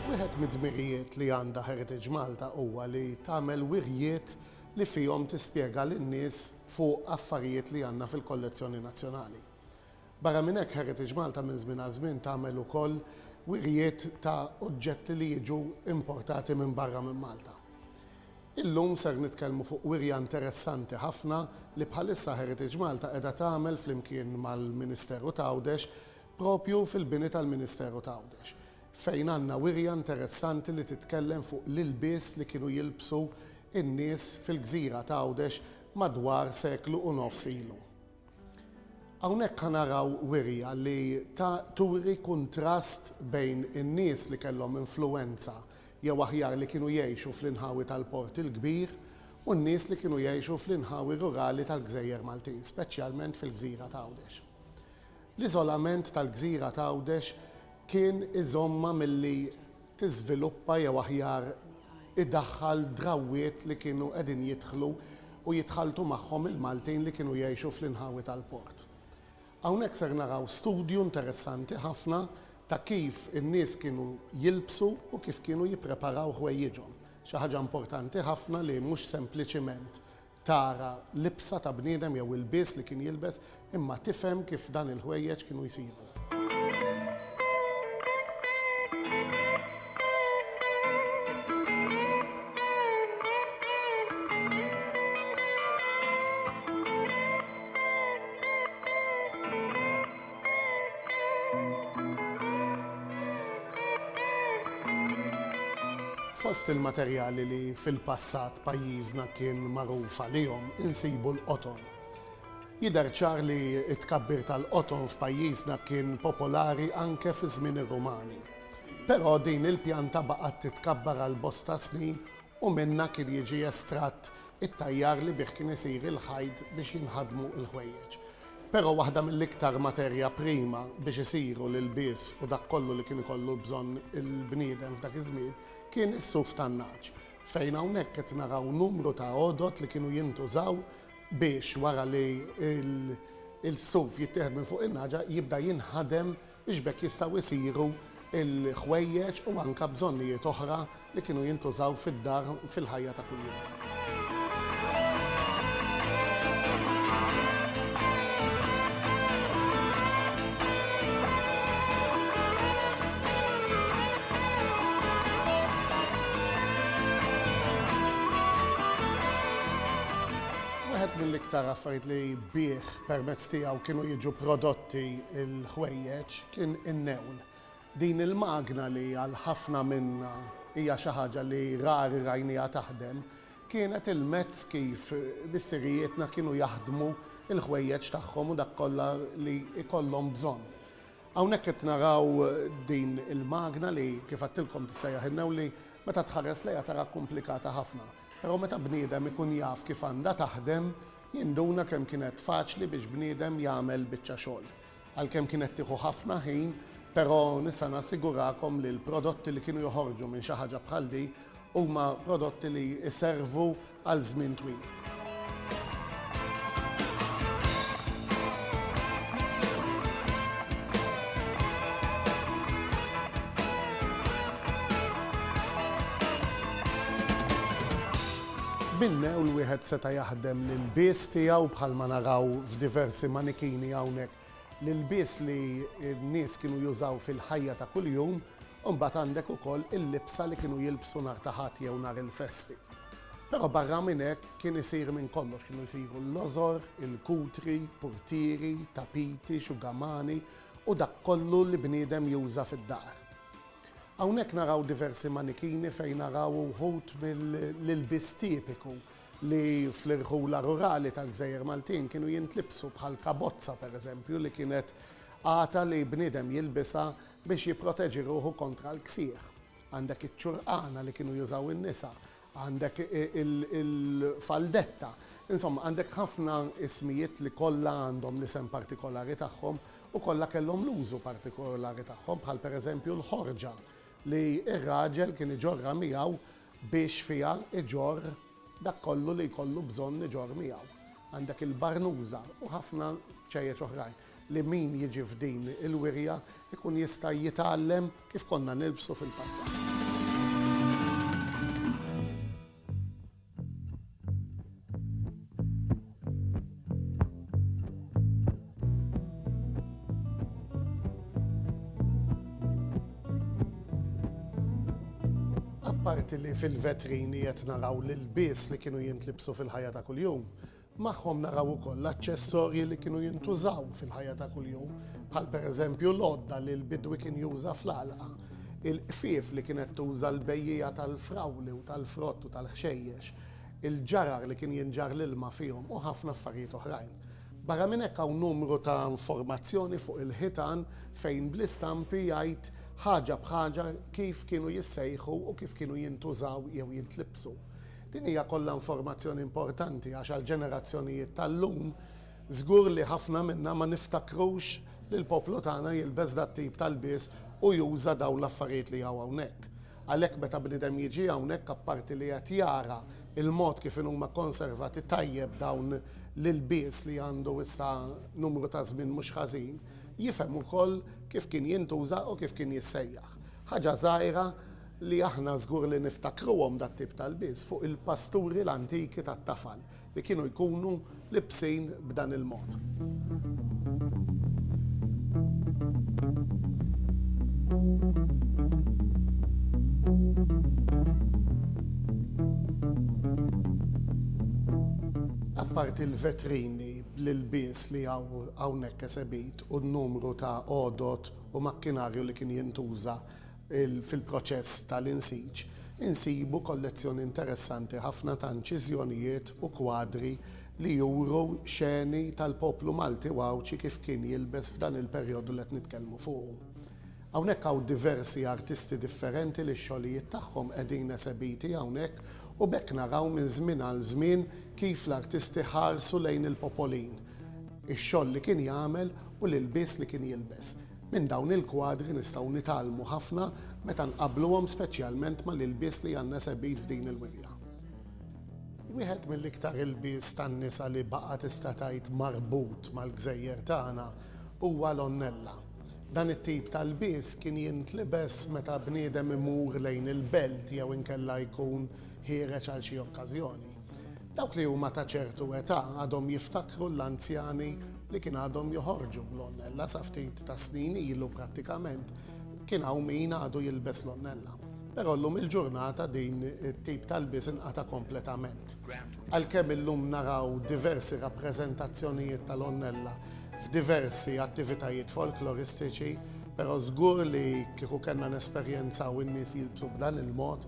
Wieħed mid-dmirijiet li għandha Heritage Malta huwa li tagħmel wirjiet li fihom tispjega lin-nies fuq affarijiet li għandna fil-kollezzjoni nazzjonali. Barra minn hekk Heritage Malta minn żmien għal żmien tagħmel ukoll wirjiet ta' oġġetti li jiġu importati minn barra minn Malta. Illum ser nitkellmu fuq wirja interessanti ħafna li bħalissa Heritage Malta qiegħda tagħmel flimkien mal-Ministeru t'Għawdex propju fil-bini tal-Ministeru t'Għawdex, fejn għandna wirja interessanti li titkellem fuq l-ilbies li kienu jilbsu n-nies fil-gżira t'Għawdex madwar seklu u nofs ilu. Hawnhekk ħa naraw wirja li ta' turi kuntrast bejn in-nies li kellhom influwenza jew aħjar li kienu jgħixu fl-inħawi tal-Port il-Kbir u n-nies li kienu jgħixu fl-inħawi rurali tal-gżejjer Maltin, speċjalment fil-gżira t'Għawdex. L-iżolament tal-gżira ta' Għawdex kien iżommha milli tiżviluppa jew aħjar idaħħal drawwiet li kienu qegħdin jidħlu u jitħalltu magħhom il-Maltin li kienu jgħixu fl-inħawi tal-port. Hawnhekk ser naraw studju interessanti ħafna ta' kif in-nies kienu jilbsu u kif kienu jippreparaw ħwejjiġhom. Xi ħaġa importanti ħafna li mhux sempliċiment tara libsa ta' bniedem jew ilbies li kien jilbes, imma tifhem kif dan il-ħwejjeġ kienu jsiru. Fost il-materjali li fil-passat pajjiżna kien magħruf għalihom insibu l-qoton. Jidher ċar li t-tkabbir tal-qoton f'pajjiżna kien popolari anke fi żmien ir-Rumani. Però din il-pjanta baqgħet titkabbar għal bosta snin u minnha kien jiġi estratt it-tajjar li bih kien isir il-ħajt biex jinħadmu l-ħwejjeġ. Però waħda mill-iktar materja prima biex isiru l-ilbies u dak kollu li kien ikollu bżonn il-bniedem f'dak iż-żmien kien is-suf tan-nagħaġ, fejn hawnhekk qed naraw numru ta' għodod li kienu jintużaw biex wara li l-suf jittieħed minn fuq in-nagħġa jibda jinħadem biex b'hekk jistgħu jsiru l-ħwejjeġ u anke bżonnijiet oħra li kienu jintużaw fid-dar fil-ħajja ta' kuljum. Wieħed mill-iktar affarijiet li bih permezz tiegħu kienu jiġu prodotti Ti l-ħwejjeġ kien in-newl. Din il-magna li għal ħafna minna hija xi ħaġa li rari rajniha taħdem, kienet il-mezz kif missirijietna kienu jaħdmu l-ħwejjeġ tagħhom u dak kollha li jkollhom bżonn. Hawnhekk qed naraw din il-magna li kif għedtilkom tissejjaħ in-newl li meta tħares lejha tara komplikata ħafna. Però meta bniedem ikun jaf kif għandha taħdem, Jinduna kemm kienet faċli biex bniedem jagħmel biċċa xogħol. Għalkemm kienet tieħu ħafna ħin, però nista' nassigurakom li l-prodotti li kienu joħorġu minn xi ħaġa bħal di huma prodotti li jservu għal żmien twil. Bil-mewl wieħed seta' jaħdem l-ilbies tiegħu bħalma naraw f'diversi manikini hawnhekk. L-ilbies li n-nies kienu jużaw fil-ħajja ta' kuljum u mbagħad għandek ukoll il-libsa li kienu jilbsu nhar ta' Ħadd jew nhar il-festi. Però barra minn hekk kien isir minn kollox, kienu jsiru l-lożor, il-kutri, purtieri, tapiti, xugamani u dak kollu li bniedem juża fid-dar. Hawnhekk naraw diversi manikini fejn naraw uħud mill-ilbies tipiku li fl-irħula rurali tal-gżejjer Maltin kienu jintlibsu bħal kabozza pereżempju li kienet għata li bniedem jilbisha biex jipproteġi ruħu kontra l-ksieħ. Għandek iċ-ċurqana li kienu jużaw in-nisa Għandek il-faldetta. Insomma, għandek ħafna ismijiet li kollha għandhom l-isem partikolari tagħhom u kollha kellhom l-użu partikolari tagħhom, bħal pereżempju l-ħorġa li r-raġel kien iġorrha miegħu biex fiha jġorr dak kollu li jkollu bżonn iġorr miegħu. Għandek il-barnuża u ħafna ċejjeċ oħrajn. li min jiġi f'din il-wirja jkun jista' jitgħallem kif konna nilbsu fil-passat. Apparti li fil-vetrini qed naraw l-ilbies li kienu jintlibsu fil-ħajja ta' kuljum, Magħhom naraw ukoll l-aċċessorji li kienu jintużaw fil-ħajja ta' kuljum, bħal pereżempju l-għodda li l-bidwi kien juża fl-għalqa, il-qfief li kienet tuża l-bejjiegħa tal-frawli u tal-frott u tal-ħxejjex, il-ġarar li kien jinġarr l-ilma fihom u ħafna affarijiet oħrajn. Barra minn hekk hawn numru ta' informazzjoni fuq il-ħitan fejn bl-istampi jgħid ħaġa b'ħaġa kif kienu jissejħu u kif kienu jintużaw jew jintlibbsu. Din hija kollha informazzjoni importanti għax għall-ġenerazzjonijiet tal-lum żgur li ħafna minna ma niftakrux li l-poplu tagħna jilbes dat-tip ta' lbies u juża dawn l-affarijiet li hawn hawnhekk. Għalhekk meta bniedem jiġi hawnhekk apparti li qed jara l-mod kif inhuma konservati tajjeb dawn l-ilbies li għandu issa numru ta' żmien mhux ħażin, jifhem ukoll kif kien jintuża u kif kien jissejjaħ. Ħaġa żgħira li aħna żgur li niftakruhom dat-tip ta' lbies fuq il-pasturi l-antiki tat-tafal li kienu jkunu libsin b'dan il-mod. Apparti l-vetrini bl-ilbies li hawn hawnhekk esebit u n-numru ta' għodod u makkinarju li kien jintuża Fil-proċess tal-insiġ insibu kollezzjoni interessanti ħafna ta' inċiżjonijiet u kwadri li juru xeni tal-poplu Malti u Għawdxi kif kien jilbes f'dan il-perjodu li qed nitkellmu fuqu. Hawnhekk hawn diversi artisti differenti li x-xogħlijiet tagħhom qegħdin esebiti hawnhekk u b'hekk naraw minn żmien għal żmien kif l-artisti ħarsu lejn il-popolin, ix-xogħol li kien jagħmel u l-ilbies li kien jilbes. Minn dawn il-kwadri nistgħu nitgħallmu ħafna meta nqabbluhom speċjalment mal-ilbies li għandna segħbin f'din il-wirja. Wieħed mill-iktar ilbies tan-nisa li baqa' tista' tgħid marbut mal-gżejjer tagħna huwa l-onnella. Dan it-tip ta' lbies kien jintlibes meta bniedem imur lejn il-belt jew inkella jkun ħiereġ għal xi okkażjoni. Dawk li huma ta' ċertu età għadhom jiftakru l-anzjani li kien għadhom joħorġu bl-onnella sa ftit tas-snin ilu prattikament kien hawn min għadu jilbes l-onnella. Però llum il-ġurnata din it-tip ta' lbies inqata' kompletament. Għalkemm illum naraw diversi rappreżentazzjonijiet tal-onnella f'diversi attivitajiet folkloristiċi, però żgur li kieku kellna nesperjenzaw in-nies jilbsu b'dan il-mod,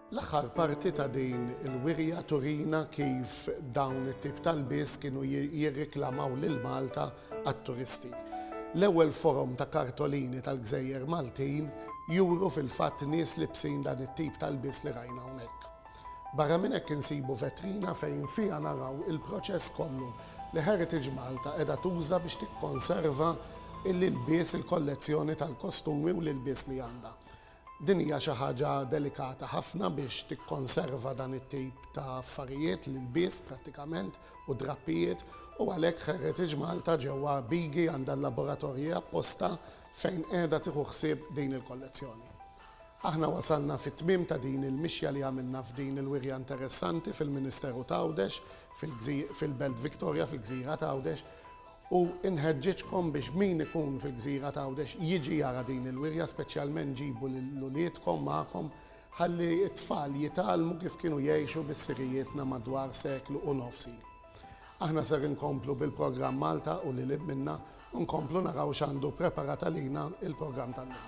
L-aħħar parti ta' din il-wirja turina kif dawn it-tip ta' lbies kienu jirriklamaw lil Malta għat-turisti. L-ewwel forom ta' kartolini tal-gżejjer Maltin juru fil-fatt nies libsin dan it-tip ta' lbies li rajna hawnhekk. Barra minn hekk insibu vetrina fejn fiha naraw il-proċess kollu li Heritage Malta qiegħda tuża biex tikkonserva l-ilbies, il-kollezzjoni tal-kostumi u l-ilbies li għandha. Din hija xi ħaġa delikata ħafna biex tikkonserva dan it-tip ta' affarijiet, l-ilbies prattikament u d-drappijiet, u għalhekk Heritage Malta ġewwa Bigi għandha l-laboratorji apposta fejn qiegħda tieħu ħsieb din il-kollezzjoni. Aħna wasalna fit-tmiem ta' din il-mixja li għamilna f'din il-wirja interessanti fil-Ministeru t'Għawdex, fil-Belt Victoria, fil-Gżira t'Għawdex, U nħeġġiġkom biex min ikun fil-gżira t'Għawdex jiġi jara din il-wirja speċjalment ġibu lil uliedkom magħkom ħalli t-tfal jitgħallmu kif kienu jgħixu bissirijietna madwar seklu u nofs ilu. Aħna ser inkomplu bil-programm Malta u lil hinn minnha u nkomplu naraw x'għandu preparat għalina il-programm tal-lum.